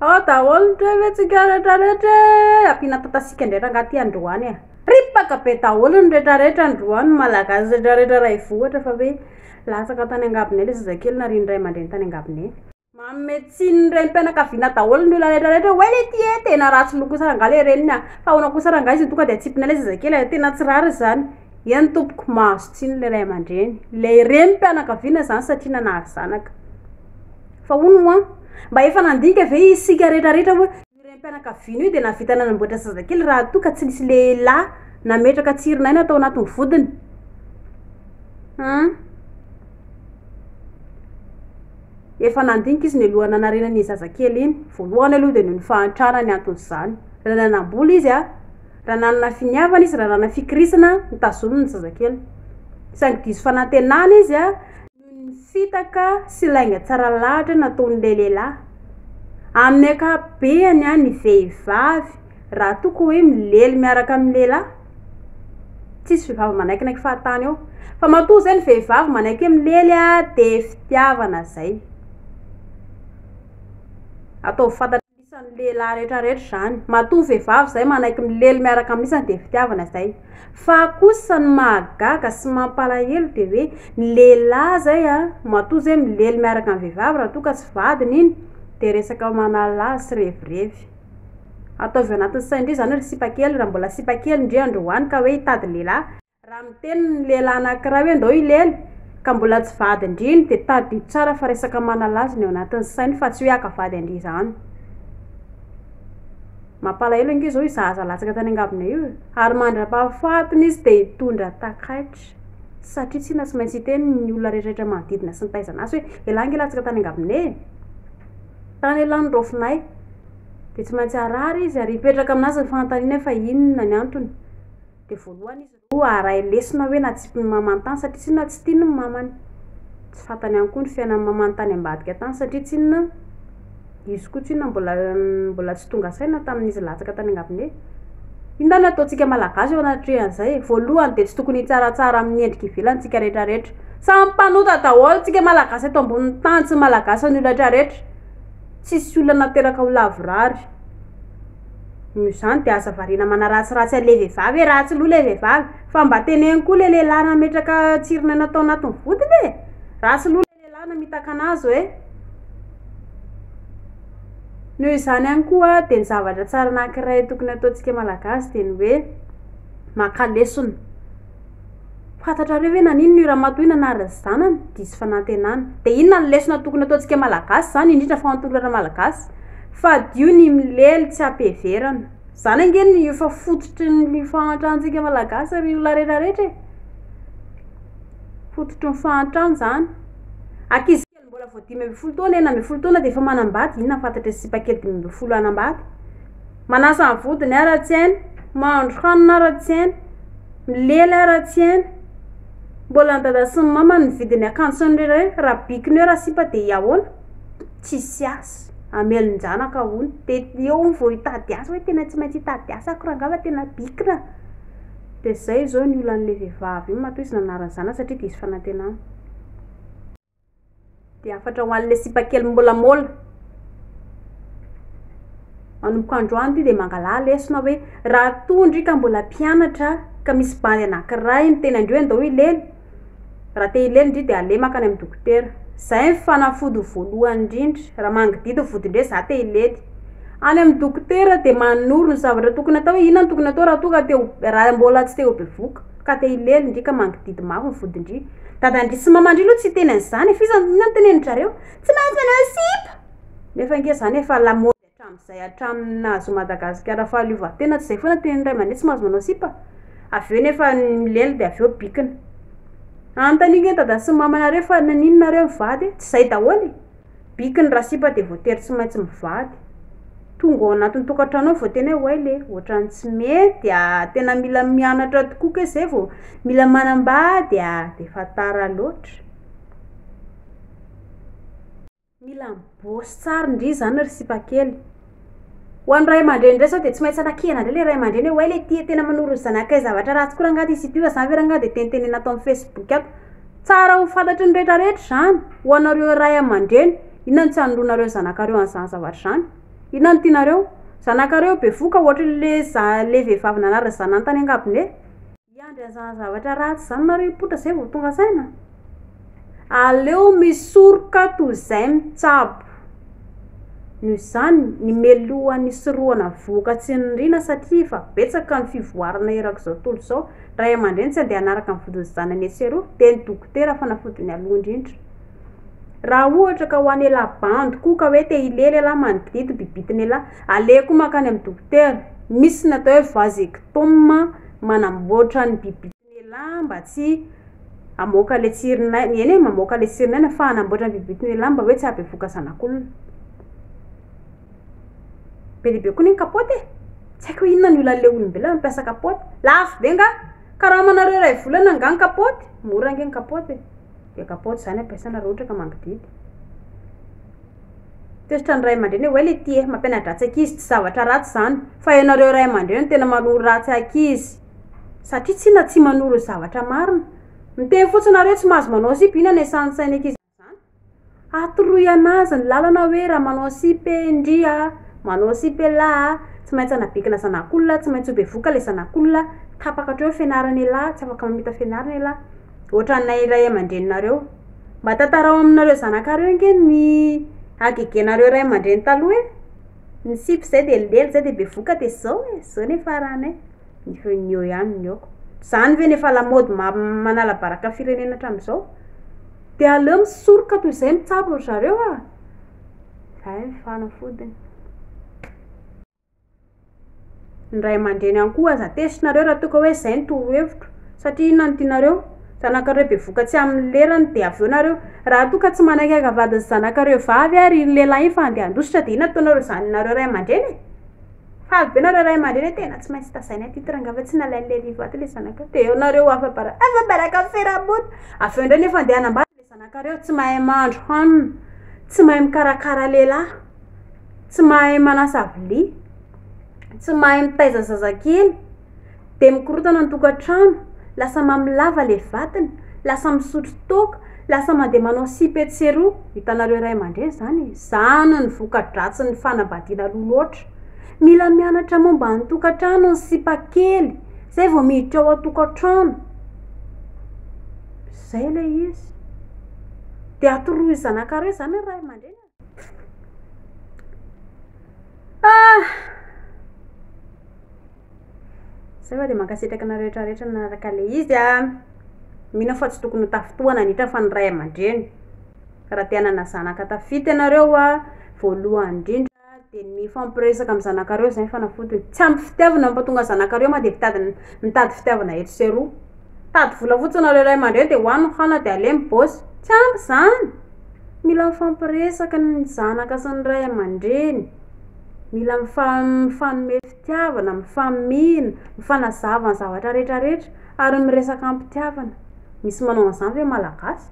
Ao daholo ny toe ve tsika rehetra rehetra e ampiana tatasika ndray rangah ty androany e ripaka be daholo ny rehetra rehetra androany ny malagasy rehetra rehetra raha hivoha ohatra fa hoe latsaka tany angabone le zazakely nariany ray aman-dreny tany angabone manome tsiny ny renim-pianakaviana daholo ny olona rehetra rehetra hoe le ty e tena ratsy loha kosa rangah le reniny a fa ahoana kosa rangah izy tonga de atsipina le zazakely a tena tsy rariny zany. Eny tompoko, mahazo tsiny ilay ray aman-dreny, ilay renim-pianakaviana izany satria nanary zanaka. Fa hono moa, mba efa nandinika ve isika rehetrarehetra hoe io renim-pianakaviana io dia nahavita nanamboatra zazakely raha toa ka tsy nisy lehilahy nametraka tsirinaina tao anatin'ny vodiny? Hum. Efa nandinika izy nialohan'ny hanarenany iny zazakely iny. Voalohany aloha dia noho ny fahantrana ny anton'izany. Raha nanam-bola izy an! Raha nanana finiavana izy, raha nanana fikirisana, nitazoniny ny zazakely. Saingy diso fanantenana izy noho ny fitaka sy lainga tsara lahatra nataon'ilay lehilahy. Amin'ny ankapobeny, ny vehivavy, raha toa ka hoe milely miaraka amin'ny lehilahy, tsisy vehivavy manaikinaiky fahatany eo. Fa matoa izay ny vehivavy manaiky hoe milely, dia fitiavana izay. Ataovy fantatry ny lehilahy. Isan'ny lehilahy rehetra rehetra izany. Matoa vehivavy izay manaiky milely miaraka amin'ny isany dia fitiavana izay. Fa kosa ny mahagaga sy mampalahelo dia hoe ny lehilahy izay a, matoa izay milely miaraka amin'ny vehivavy raha toa ka tsy vadiny iny dia resaka manala azy sy revirevy. Ataovy anatin'ny sain-dry izany ry sipa kely raha mbola sipa kely ndry androany ka hoe hitady lehilahy. Raha miteny ny lehilahy anankiray hoe ndao hilely ka mbola tsy vadin-driny dia tadidio tsara fa resaka manalaza ny ao anatin'ny sainy fa tsy hoe haka vady an-dry izany. Mampalahelo ange izao io zaza latsaka tany angabonay io e! ary mandra-pahafatiny izy dia hitondra takaitra satria tsinona tsy maintsy hiteny ny olona rehetrarehetra manodidina sy ny taizana azy hoe elah ange latsaka tany angabonay e! tany elah ny raofinay dia tsy maintsy harary izy ary hipetraka aminazy ny fanontaniana hoe fa inona ny antony? Dia voalohany izy ireo haharay lesona hoe natsipy ny mamany tany satria tsinona tsy tiany ny mamany. Tsy fantany ihany koa ny fiainan'ny mamany tany ambadika tany satria tsinona izy koa tsinona mbola mbola tsy tonga saina tamin'izy latsaka tany an-gabone. Inona no ataontsika Malagasy eo anatrehan'izay e? Voalohany dia tsy tokony hitsaratsara amin'ny endrika ivelany isika rehetrarehetra. Samy mpanota daholo isika Malagasy eto ambonin'ny tany. Tsy Malagasy ny olona retraretra. Tsisy olona nateraka ho lavorary. Noho izany dia aza variana manaratsiratsy an'ilay vehivavy e! Ratsy loha ilay vehivavy! Fa mba teneno koa ilay lehilahy nametraka tsirinaina tao anatin'ny vodiny e! Ratsy loha ilay lehilahy namitaka anazy hoe. Noho izany ihany koa dia ny zavatra tsara anankiray tokony ataontsika malagasy dia ny hoe maka lesona. Fantatrareo ve nanino ny ramatoa io nanary ny zanany? Diso fanantenana. Dia inona ny lesona tokony ataontsika malagasy izany, indrindra fa antolona malagasy? Fadio ny milely tsy ampiheverana. Izany ange no efa fototry ny fahantrantsika malagasy ary io laretra rehetra e! Fototry ny fahantrana izany. Ankizy. Ny mbola vao dimy ambin'ny folo taona, enina ambin'ny folo taona dia efa manambady, inona fantatry ny sipa kely dimy ambin'ny folo hanambady? Manasa ny vodiny aho raha tsy hainy, mahandro hanina aho raha tsy hainy, milely aho raha tsy hainy, mbola ny dada sy ny mama no mividy ny akanjo sy ny reny, raha bikony eo raha sipa dia ahoana? Tsisy asa, hamelon-janaka ahoana? Dia eo hono vao hitady asa hoe tena tsy maintsy hitady asa aho koa r'angaha fa tena bikina? Dia izay izao ny olan'ilay vehivavy io, matoa izy nanara-ny zanany satria diso fanantenana. Dia hafatra ho an'ilay sipa kely miôlamôla. Manomboka androany ity dia mangalà lesona hoe raha toa ndry ka mbola mpianatra ka misy bandy anankiray miteny andrio hoe andao hilely, raha te hilely ndry dia aleha mankany amin'ny dokotera. Izay ny fanafody voalohany indrindra. Raha mangidihidy ny vody ndray za te hilely. Any amin'ny dokotera dia manoro ny zavatra tokony atao hoe inona no tokony atao raha toa ka te ho raha mbola tsy te ho bevoka. Ka te hilely ndry ka mangididy maro ny vodindry. Dadandry sy mamandry aloha tsy hiteny an'izany e. F'iza no inona no tenenin-dRareo? Tsy maintsy manao sipa! Nefa ange izany efa la mode hatramin'izay hatramin'ny nahazoa Madagasikara fahaleovantena, tsy izay foana tenin'ny ray aman-dreny tsy mahazo manao sipa? Avy eo nefa milely dia avy eo bikina. Anontaniako an'i dada sy mamanareo fa naninona nareo mivady e? Tsy izay daholo e! Biky ny rasipa dia voatery tsy maintsy mivady. Tonga ao anatin'ny tokantranonao vao tena hoe oay le, ohatran'ny tsy mety a, tena mila mianatra tokoa kay zay vao mila manambady a, dia efa tara loatra. Mila mibaosy tsara ndry zany ry sipakely. Ho an'ny ray aman-dreny indray sao dia tsy maintsy anakihana indray ilay ray aman-dreny hoe oay le tia tena manoro ny zanakay zavatra ratsy koa rangaha ty sy ity fa zany ve rangaha dia tenitenena ato amin'ny facebook ato. Tsara ho fantatry ny rehetra rehetra izany ho anareo ray aman-dreny inona no tsy anoroanareo ny zanakareo an'izany zavatra izany? Inona no tianareo? Zanakareo bevoka ohatry le za le vehivavy nanary ny zanany tany angabone? Hiandry an'izany zavatra ratsy izany nareo hipoitra izay vao tonga saina? Aleo misoroka toy izay mitsabo. Noho izany, ny meloha nisorohana vohoka tsy niriana satria efa betsaka ny fivoarana erak'izao tontolo izao, ny ray aman-dreny tsy handeha hanaraka ny vodin'ny zanany etsy sy eroa dia ny dokotera fanafody ny aloha indrindra. Raha ohatra ka ho an'ialahy bandy koa ka hoe te hilely ialahy manidingidy bibitin'ialahy, aleha koa mankany amin'ny dokotera. Misy ny atao hoe vasectome. manamboatra ny bibitnela mba tsy hamoaka le tsirin'aina, eny e mamoaka le tsirin'aina fa hanamboatra ny bibitnela mba hoe tsy hahabevoka zanak'olona. Be dia be koa anie ny kapoaka e! Tsy haiko hoe inona no ilan'le olombelona mampiasa kapoaka? Lafo be angaha? Karamanareo iray volana angaha ny kapoaka? Mora ange ny kapoaka e! Dia kapoaka izany ampiasaina raha ohatra ka mangidihidy. Tezitra ny ray aman-dreny hoe well ity eh, mampiana-dratsy ankizy tsy zavatra ratsy izany, fa ianareo ray aman-dreny no tena manoro ratsy ankizy, satria tsy na tsy manoro zavatra marina, miteny fotsiny nareo tsy mahazo manao sipa ina ny asan'ny sain'ny ankizy amin'izany? atoroy anazy ny lalana hoe raha manao sipa eh ndry a, manao sipa elah a, tsy maintsy anabikina zanak'olona, tsy maintsy ho bevoka ilay zanak'olona, tapaka hatreo ny fianarana elah, tsy afaka mamita fianarana elah. ohatranay ray aman-dreninareo. Mba tantarao aminareo zanakareo ange ny hagegenareo ray aman-dreny taloha e! Ny sipa izay dia lely, izay dia bevoka dia izao e! Izao ny faranay. Ny feo ny eo ihany ny aoka. Izany ve no efa lamaody ma- manala baraka ny firenena hatramin'izao? Dia aleo misoroka toy izay mitsabo ry zareo a! Izay ny fanafodiny. Ny ray aman-dreny ihany koa aza tesinareo raha toa ka hoe izay no torohevitro. Satria inona no tianareo? Zanakareo be voka tsy amin'ny lerany dia avy eo nareo. Raha toa ka tsy manaiky hankavandy ny zanakareo vavy ary iny lehilahy iny fa handeha handositra dia inona no ataonareo izany nareo ray aman-dreny e? Faly be nareo ray aman-dreny hoe tena tsy maintsy tazaina ity titre angaha fa tsy nalain'ilay Liva ato ilay zanakao. Dia eo nareo afa-baraka, afa-baraka am-piarahamonina. Avy eo indray nefa handeha hanambady. Zanakareo tsy mahay mahandro hanina, tsy mahay mikarakara lehilahy, tsy mahay manasa vilia, tsy mahay mitaiza zazakely, dia mikorontana ny tokantrano, lasa mamy lava ilay vatony, lasa misotro toaka, lasa mandeha manao sipa etsy sy eroa. Hitanareo ray aman-dreny izany e! Izany no voka-dratsin'ny fanambadiana aloha loatra. Mila mianatra momba ny tokantrano ny sipakely, izay vao miditra ao an-tokantrano. Izay ilay izy. Dia atoroy zanakareo izany ny ray aman-dreny e! Ah! Izay fa dia mankasitraka anareo rehetra rehetra nanaraka ilay izy a! Mino aho fa tsy tokony ho tafintohana an'itra fa ny ray aman-dreny. Raha te hanana zanaka tafita ianareo a, voalohany indrindra, dia ny mifampiresaka amin'ny zanakareo izay ny fanafodiny, tsy ampy fitiavana no mampatonga ny zanakareo ma dia mitady mitady fitiavana eto sy eroa, mitady vola fotsiny nareo ray aman-dreny dia hoany ny hana dia aleo ny boss, tsy ampy izany, mila mifampiresaka ny zanaka sy ny ray aman-dreny, mila mifa- mifanome fitiavana, mifamihina, mifanazava ny zavatra retraretra ary miresaka am-pitiavana, misy manao an'izany ve malagasy?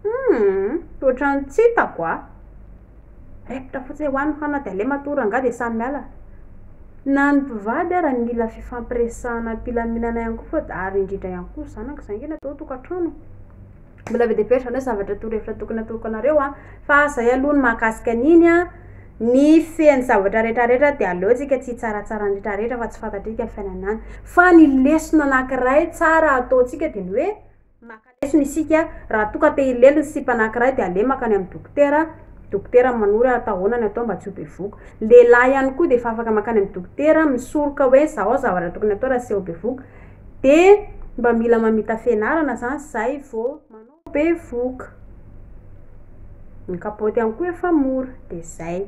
Humm ohatran'ny tsy hitako a! Recta fotsiny eo any hana de aleo matoa rangah de samy miala. Na ny mpivady ara ny mila fifampiresahana ampilaminana ihany koa fa ary indrindra ihany koa zanaka zany nge natao tokatrano e. Mbola be de be ary zany hoe zavatra torohevitra tokony atokanareo a. Fa zay aloha ny mahakasika an'iny a, ny fen'ny zavatra retraretra de aleo tsika tsy hitsaratsara ny retraretra fa tsy fantatrika ny fiainana any. Fa ny lesona anakiray tsara ataontsika de ny hoe. Maka lesona isika, raha toa ka te hilely ny sipa anankiray dia aleo mankany amin'ny dokotera, dokotera manoro ary atao ahoana ny atao mba tsy ho bevoka. Ny lehilahy ihany koa dia efa afaka mankany amin'ny dokotera misoroka hoe zao zavatra tokony atao raha seho bevoka, dia mba mila mamita fianarana izany zay vao manao bevoka. Ny kapaoty ihany koa efa mora, dia zay.